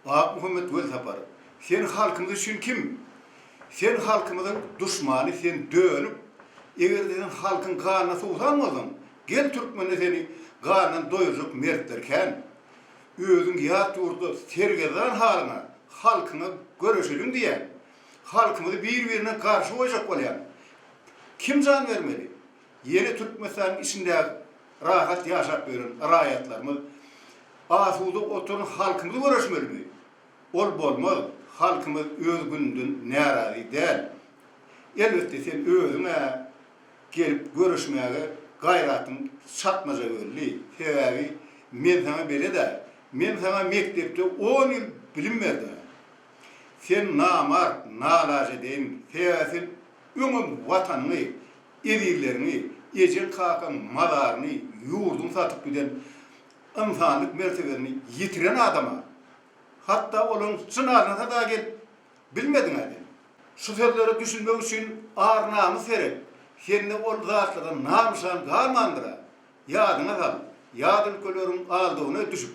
Akmuhammet Welsaparow, sen halkymyz üçin kim? Sen halkymyzyň duşmany, sen dönük. Eger-de sen halkyň ganyna suwsan bolsaň, gel türkmende seni gandan doýurjak mertler kän. Özüň ýat ýurtda sergezdan halyňa halkyňa göreşeliň diýýän. Halkymyzy bir-birine garşy goýjak bolýaň. Kim jan bermeli? Ýene Türkmenistanyň içindäki rahat ýaşap ýören raýatlarymyz, asuda oturan halkymyz göreşmelimi? Ol bolmaz, halkymyz öz gününden närazy däl. Elbetde sen özüň-ä gelip göreşmäge gaýratyň çatmaja belli, sebäbi men saňa belet-ä, men saňa mekdepde on ýyl bilim berdim-ä. Sen namart, nalajedeýin, sebäbi sen öňem Watanyňy, Ezizleriňi, ejeň-kakaň mazaryny, ýurduny satyp giden, ynsanlyk mertebesini ýitiren adama, hatda olaryň jynazasyna dagy gelip bilmediň-ä sen. Şu sözlere düşünmek üçin ar-namys gerek. Sende ol zatlardan nam-nyşan galmandyr-a. Ýadyňa sal, ýat ülkeleriň aldawyna düşüp,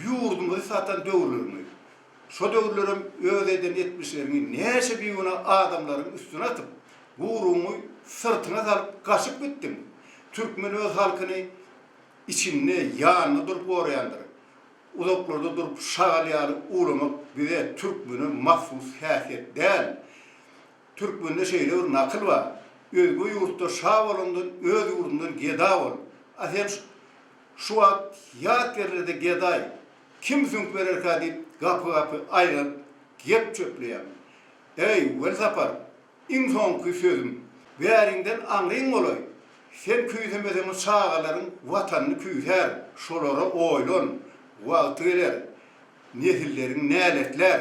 ýurdumyzy satan döwürleriňi, şo döwürlerem öz eden etmişleriňi näçe bigünä adamlaryň üstüne atyp, guruňy syrtyňa salyp gaçyp gitdiň. Türkmen öz halkyny içinde, ýanynda durup goraýandyr. Uzaklarda durup şagal ýaly uwlamak bize türkmene mahsus häsiýet däl. Türkmende şeýle bir nakyl bar, Özge ýurtda şa bolandan öz ýurdunda geda bol. A sen şu wagt ýat ýerlerde gedaý, kim süňk bererkä diýip gapy-gapy aýlanyp gep çöpleýäň. Eý, welsapar, iň soňky sözüm, bäriňden aňryň bolaý, sen küýsemeseňem çagalaryň Watanyny küýsär, şolara oýlan, wagty geler, nesilleriň näletlär.